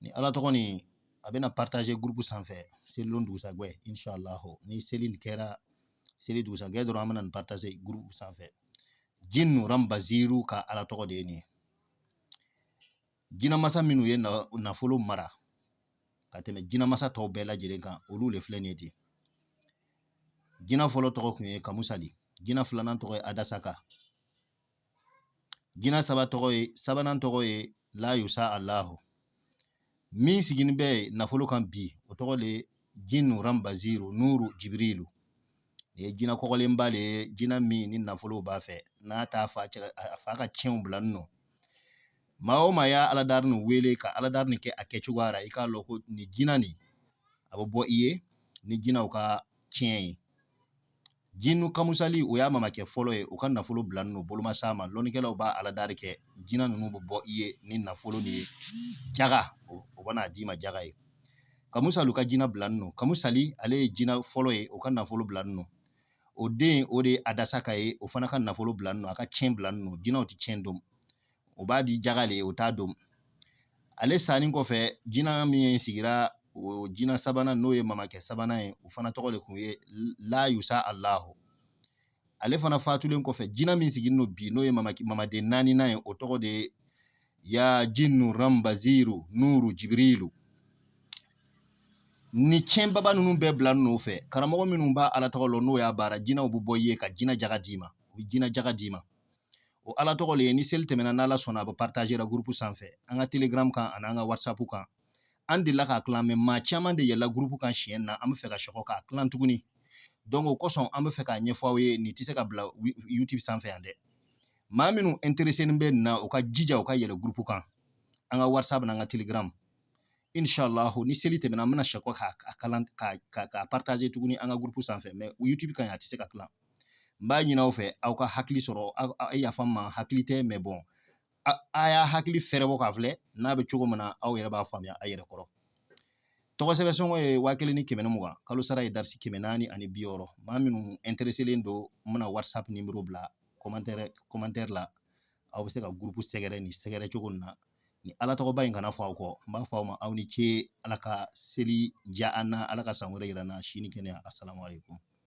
ni ala tɔgɔ nin a bɛna partager groupe sanfɛ selidon dugusajɛ inshallah ni seli nin kɛra seli dugusajɛ dɔrɔn an bɛna nin partager groupe sanfɛ jinnu rambaziru ka ala tɔgɔ de ye nin ye jinamasa minnu ye nafolo mara ka tɛmɛ jinamasa tɔw bɛɛ lajɛlen kan olu de filɛ nin ye ten jina fɔlɔ tɔgɔ kun ye kamusali jina filanan tɔgɔ ye adasaka jina saba tɔgɔ ye sabanan tɔgɔ ye la yusa alahu min sigilen bɛ nafolo kan bi o tɔgɔ de ye jinnu rambaziru nuru jibirilu nin ye jina kɔgɔlenba le ye jina min ni nafolo b'a fɛ n'a t'a fa cɛ a fa ka cɛnw bilanin no maa o maa y'a aladari nin wele ka aladari nin kɛ a kɛcogoya la i k'a lɔn ko nin jina nin a bɛ bɔ i ye ni jinaw ka cɛn ye Jinnu kamusali o y'a mamakɛ fɔlɔ ye u ka nafolo bilanin o boloma sa ma lɔnnikɛlaw b'a aladari kɛ jina ninnu bɛ bɔ i ye ni nafolo de ye jaga o bɛn'a d'i ma jaga ye kamusali u ka jina bilanin no kamusali ale ye jina fɔlɔ ye u ka nafolo bilanin no o den o de ye adasaka ye o fana ka nafolo bilanin no a ka cɛn bilanin no jinaw tɛ cɛn don o b'a di jaga le o t'a don ale sanin kɔfɛ jina min sigira o jina sabanan n'o ye mamakɛ sabanan ye o fana tɔgɔ le kun ye la yusa alahu ale fana fatulen kɔfɛ jina min sigilen don bi n'o ye mamaden naaninan ye o tɔgɔ de ye ya jinnu rambaziru nuru jibirilu ni cɛnbaba ninnu bɛɛ bilanin o fɛ karamɔgɔ minnu b'a ala tɔgɔ lɔn n'o y'a baara jinaw bɛ bɔ i ye ka jina jaga d'i ma u bɛ jina jaga d'i ma o ala tɔgɔ le ye ni seli tɛmɛna n'ala sɔnna a bɛ partager la groupe sanfɛ an ka telegram kan ani an ka whatsapp kan an delila k'a tilan mais maa caman de yɛlɛla groupe kan siɲɛ na an bɛ fɛ ka sɛkɔ k'a tilan tuguni donc o kosɔn an bɛ fɛ k'a ɲɛfɔ aw ye nin tɛ se ka bila youtube sanfɛ yan dɛ maa minnu intéressé bɛ nin na u ka jija u ka yɛlɛ groupe kan an ka whatsapp n'an ka telegram inshallah ni seli tɛmɛna an bɛna sɛkɔ k'a tilan k'a partager tuguni an ka groupe sanfɛ mais youtube kan yan a tɛ se ka tilan n b'a ɲin'aw fɛ aw ka hakili sɔrɔ a yafa n ma hakili tɛ mais bon a y'a hakili fɛrɛbɔ k'a filɛ n'a bɛ cogo min na aw yɛrɛ b'a faamuya a yɛrɛ kɔrɔ tɔgɔ sɛbɛn sɔngɔ ye waa kelen ni kɛmɛ ni mugan kalo sara ye darisi kɛmɛ naani ani bi wɔɔrɔ maa minnu ɛntereselen don n bɛna whatsapp nimero bila kɔmantɛrɛ kɔmantɛri la aw bɛ se ka gurupu sɛgɛrɛ ni sɛgɛrɛ cogo min na ni ala tɔgɔba in kana fɔ aw kɔ n b'a fɔ aw ma aw ni ce ala ka seli diya an na ala ka san wɛrɛ yira an na sini kɛnɛya asalaamaaleykum